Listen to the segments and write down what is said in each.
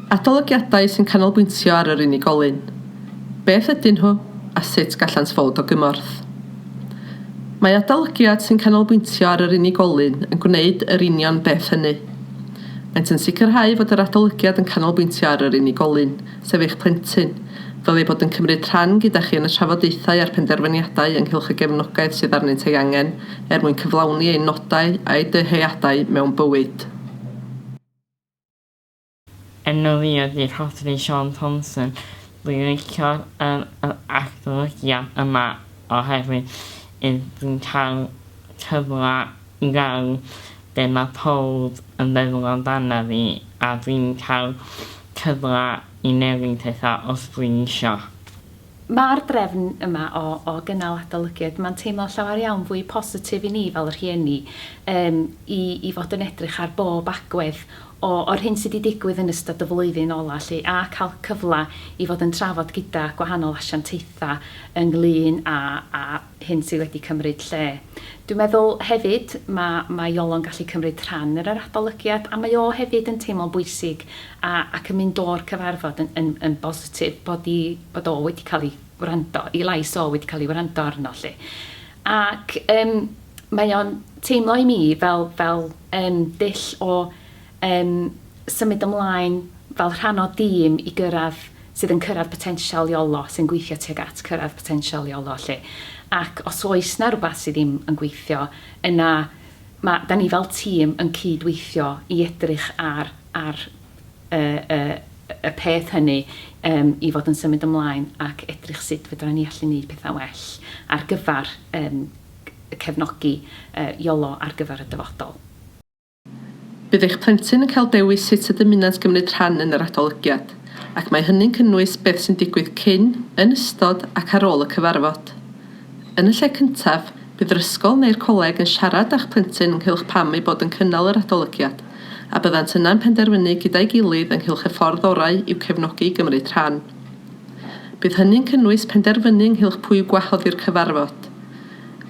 Adolygiadau sy'n canolbwyntio ar yr unigolyn, beth ydyn nhw a sut gallant fod o gymorth. Mae adolygiad sy'n canolbwyntio ar yr unigolyn yn gwneud yr union beth hynny. Maent yn sicrhau fod yr adolygiad yn canolbwyntio ar yr unigolyn, sef eich plentyn, fel eu bod yn cymryd rhan gyda chi yn y trafodaethau a'r penderfyniadau ynghylch y gefnogaeth sydd arnynt ei angen er mwyn cyflawni ein nodau a'u dyheadau mewn bywyd. Enw fi ydi Rhodri Siôn Thomson. Dwi'n licio yr yr adolygiad yma oherwydd yy dwi'n cael cyfle i weld be' ma' powb yn feddwl amdana fi a dwi'n cael cyfle i newid petha os dwi'n isio. Mae'r drefn yma o o gynnal adolygiad, mae'n teimlo'n llawer iawn fwy positif i ni fel rhieni yym i i fod yn edrych ar bob agwedd o o'r hyn sy' 'di digwydd yn ystod y flwyddyn ola' 'lly a ca'l cyfla i fod yn trafod gyda gwahanol asiantaetha' ynglŷn â â hyn sydd wedi cymryd lle. Dwi'n meddwl hefyd ma' ma' Iolo'n gallu cymryd rhan yn yr adolygiad a mae o hefyd yn teimlo'n bwysig a ac yn mynd o'r cyfarfod yn yn yn bositif bod 'i bod o wedi cael ei wrando, ei lais o wedi cael ei wrando arno 'lly. Ac yym mae o'n teimlo i mi fel fel yym dull o yn symud ymlaen fel rhan o dîm i gyrraedd, sydd yn cyrraedd potensial Iolo, sy'n gweithio tuag at cyrraedd potensial Iolo 'lly. Ac os oes 'na rwbath sydd ddim yn gweithio, yna ma'... 'dan ni fel tîm yn cyd-weithio i edrych ar ar y y y peth hynny yym i fod yn symud ymlaen ac edrych sut fedran ni allu neud petha'n well ar gyfer yym cefnogi yy Iolo ar gyfer y dyfodol. Bydd eich plentyn yn cael dewis sut y dymunant gymryd rhan yn yr adolygiad, ac mae hynny'n cynnwys beth sy'n digwydd cyn, yn ystod ac ar ôl y cyfarfod. Yn y lle cyntaf, bydd yr ysgol neu'r coleg yn siarad â'ch plentyn ynghylch pam eu bod yn cynnal yr adolygiad, a byddant yna'n penderfynu gyda'i gilydd ynghylch y ffordd orau i'w cefnogi i gymryd rhan. Bydd hynny'n cynnwys penderfynu ynghylch pwy i'w gwahodd i'r cyfarfod.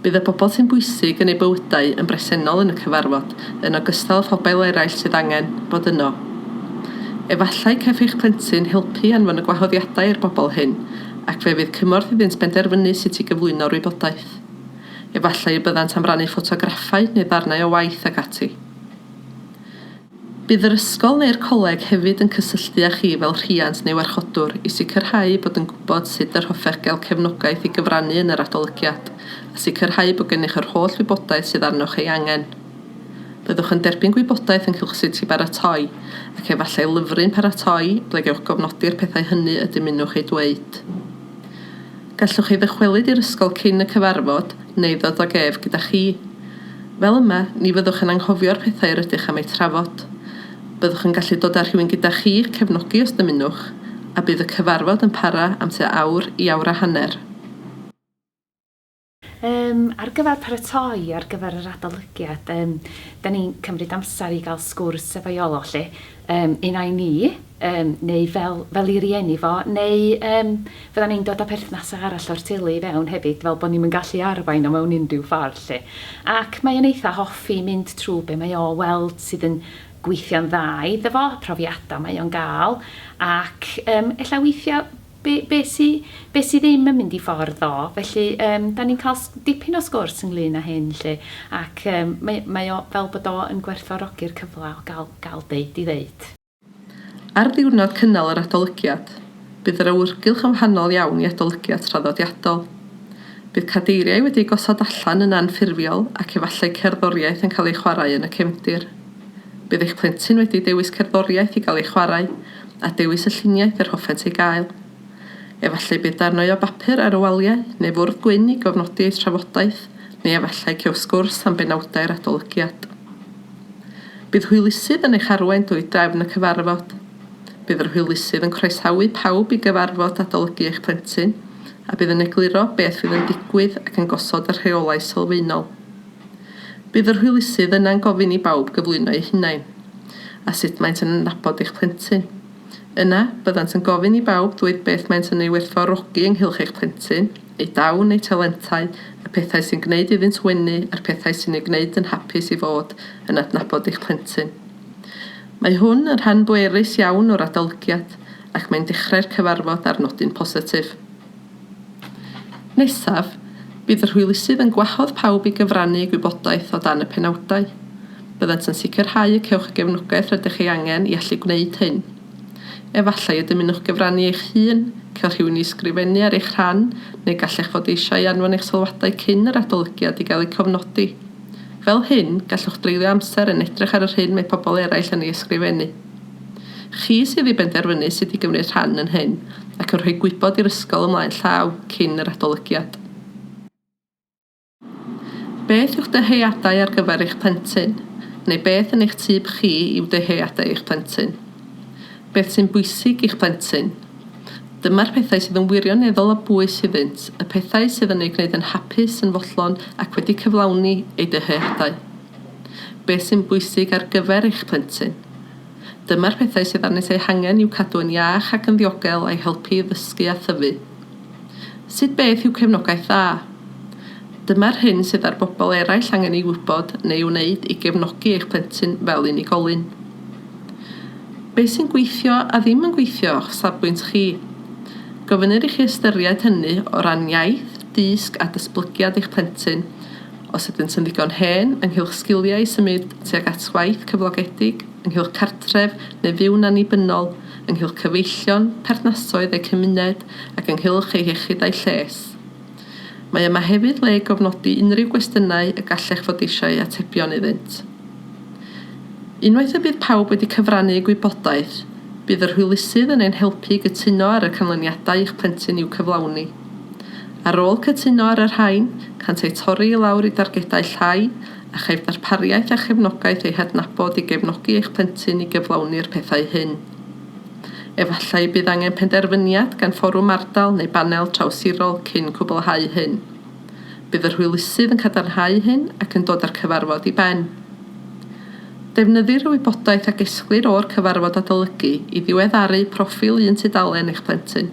Bydd y bobl sy'n bwysig yn eu bywydau yn bresennol yn y cyfarfod, yn ogystal â phobail eraill sydd angen bod yno. Efallai caiff eich plentyn helpu i anfon y gwahoddiadau i'r bobl hyn, ac fe fydd cymorth iddynt benderfynu sut i gyflwyno'r wybodaeth. Efallai y byddant am rannu ffotograffau neu ddarnau o waith ac ati. Bydd yr ysgol neu'r coleg hefyd yn cysylltu â chi fel rhiant neu warchodwr i sicrhau bod yn gwybod sut yr hoffech gael cefnogaeth i gyfrannu yn yr adolygiad, a sicrhau bod gennych yr holl wybodaeth sydd arnoch ei angen. Byddwch yn derbyn gwybodaeth ynghylch sut i baratoi, ac efallai lyfryn paratoi, ble gewch gofnodi'r pethau hynny y dymunwch eu dweud. Gallwch chi ddychwelyd i'r ysgol cyn y cyfarfod neu ddod ag ef gyda chi. Fel yma, ni fyddwch yn anghofio'r pethau yr ydych am eu trafod. Byddwch yn gallu dod â rhywun gyda chi i'ch cefnogi os dymunwch, a bydd y cyfarfod yn para am tua awr i awr a hanner. Yym, ar gyfer paratoi ar gyfer yr adolygiad, yym, da ni'n cymryd amser i gael sgwrs efo Iolo, lly. Yym, un ai ni, yym, neu fel, fel i rieni fo, neu, yym, fyddan ni'n dod â perthnasau arall o'r teulu i fewn hefyd, fel bod ni'm yn gallu arwain o mewn unrhyw ffordd, lly. Ac mae o'n eitha hoffi mynd trwy be mae o weld sydd yn gweithio'n dda iddo fo, profiadau mae o'n gael, ac, yym, ella weithiau, Be, be sy, be sy ddim yn mynd i ffordd ddo, felly yym 'dan ni'n cael s- dipyn o sgwrs ynglŷn â hyn 'lly, ac yym mae, mae o fel bod o yn gwerthfawrogi'r cyfle o gael, gael deud 'i ddeud. Ar ddiwrnod cynnal yr adolygiad, bydd yr awyrgylch yn wahanol iawn i adolygiad traddodiadol. Bydd cadeiriau wedi eu gosod allan yn anffurfiol ac efallai cerddoriaeth yn cael ei chwarae yn y cefndir. Bydd eich plentyn wedi dewis cerddoriaeth i gael ei chwarae a dewis y lluniaeth yr hoffent ei gael. Efallai bydd darnau o bapur ar y waliau neu fwrdd gwyn i gofnodi eu trafodaeth, neu efallai cew sgwrs am benawdau'r adolygiad. Bydd hwylusydd yn eich arwain drwy drefn y cyfarfod. Bydd yr hwylusydd yn croesawu pawb i gyfarfod adolygu eich plentyn, a bydd yn egluro beth fydd yn digwydd ac yn gosod y rheolau sylfaenol. Bydd yr hwylusydd yna'n gofyn i bawb gyflwyno eu hunain, a sut maent yn adnabod eich plentyn. Yna, byddant yn gofyn i bawb ddweud beth maent yn ei werthfawrogi ynghylch eich plentyn, ei dawn, ei talentau, y pethau sy'n gwneud iddynt wenu a'r pethau sy'n ei gwneud yn hapus i fod yn adnabod eich plentyn. Mae hwn yn rhan bwerus iawn o'r adolygiad, ac mae'n dechrau'r cyfarfod ar nodyn positif. Nesaf, bydd yr hwylusydd yn gwahodd pawb i gyfrannu eu gwybodaeth o dan y penawdau. Byddant yn sicrhau y cewch y gefnogaeth rydych ei angen i allu gwneud hyn. Efallai y dymunwch gyfrannu eich hun, cael rhywun i ysgrifennu ar eich rhan, neu gallech fod eisiau anfon eich sylwadau cyn yr adolygiad i gael eu cofnodi. Fel hyn, gallwch dreulio amser yn edrych ar yr hyn mae pobl eraill yn ei ysgrifennu. Chi sydd i benderfynu sut i gymryd rhan yn hyn ac yn rhoi gwybod i'r ysgol ymlaen llaw cyn yr adolygiad. Beth yw'ch dyheadau ar gyfer eich plentyn? neu beth yn eich tyb chi yw dyheadau eich plentyn? Beth sy'n bwysig i'ch plentyn? Dyma'r pethau sydd yn wirioneddol o bwys iddynt, y pethau sydd yn eu gwneud yn hapus yn fodlon ac wedi cyflawni eu dyheadau. Beth sy'n bwysig ar gyfer eich plentyn? Dyma'r pethau sydd arnynt eu hangen i'w cadw yn iach ac yn ddiogel a'i helpu i ddysgu a thyfu. Sut beth yw cefnogaeth dda? Dyma'r hyn sydd ar bobl eraill angen ei wybod neu wneud i gefnogi eich plentyn fel unigolyn. Beth sy'n gweithio a ddim yn gweithio o'ch safbwynt chi? Gofynnir i chi ystyried hynny o ran iaith, dysg a datblygiad eich plentyn os ydynt yn ddigon hen, ynghylch sgiliau i symud tuag at waith cyflogedig, ynghylch cartref neu fyw'n annibynnol, ynghylch cyfeillion, perthnasoedd eu cymuned ac ynghylch eu hiechyd a'u lles. Mae yma hefyd le i gofnodi unrhyw gwestiynau y gallech fod eisiau atebion iddynt. Unwaith y bydd pawb wedi cyfrannu eu gwybodaeth, bydd yr hwylusydd yn ein helpu i gytuno ar y canlyniadau i'ch plentyn i'w cyflawni. Ar ôl cytuno ar y rhain, cânt eu torri i lawr i dargedau llai, a chaiff ddarpariaeth a chefnogaeth eu hadnabod i gefnogi eich plentyn i gyflawni'r pethau hyn. Efallai y bydd angen penderfyniad gan fforwm ardal neu banel trawsirol cyn cwblhau hyn. Bydd yr hwylusydd yn cadarnhau hyn ac yn dod â'r cyfarfod i ben. Defnyddir y wybodaeth a gesglir o'r cyfarfod adolygu i ddiweddaru proffil un tudalen eich plentyn,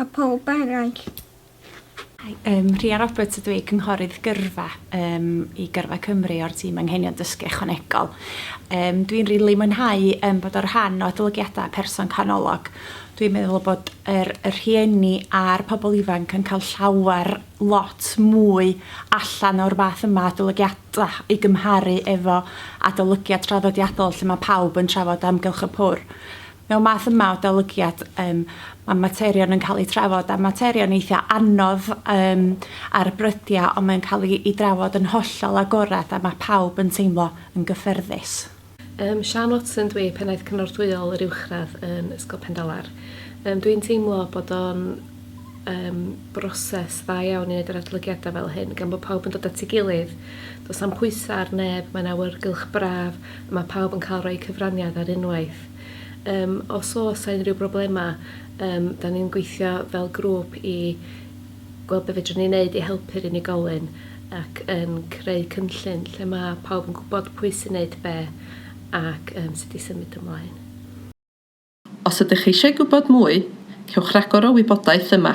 a phawb eraill. Hi, yym Rhia Roberts ydw i, Cynghorydd Gyrfa yym i Gyrfa Cymru o'r tîm Anghenion Dysgu Ychwanegol. Yym dwi'n rili mwynhau yym bod o rhan o adolygiada Person Canolog. Dwi'n meddwl bod yr y rhieni a'r pobl ifanc yn cael llawer lot mwy allan o'r fath yma adolygiada i gymharu efo adolygiad traddodiadol lle mae pawb yn trafod amgylch y pwr. Mewn math yma o adolygiad yym ma' materion yn ca'l eu trafod a materion eitha anodd yym ar brydia on' mae'n ca'l 'i 'i drafod yn hollol agorad a ma' pawb yn teimlo yn gyffyrddus. Yym Siân Watson dw i, Pennaeth Cynorthwyol yr Uwchradd yn Ysgol Pendalar. Yym dwi'n teimlo bod o'n yym broses dda iawn i neud yr adolygiada fel hyn gan bo pawb yn dod at ei gilydd do's na'm pwysa ar neb mae'n awyrgylch braf a ma' pawb yn ca'l roi cyfraniad ar unwaith. Yym os o's 'a unrhyw broblema yym 'dan ni'n gweithio fel grŵp i gweld be' fedrwn ni neud i helpu'r unigolyn ac yn creu cynllun lle ma' pawb yn gwbod pwy sy'n neud be' ac yym sut i symud ymlaen. Os ydych chi eisiau gwybod mwy, cewch ragor o wybodaeth yma.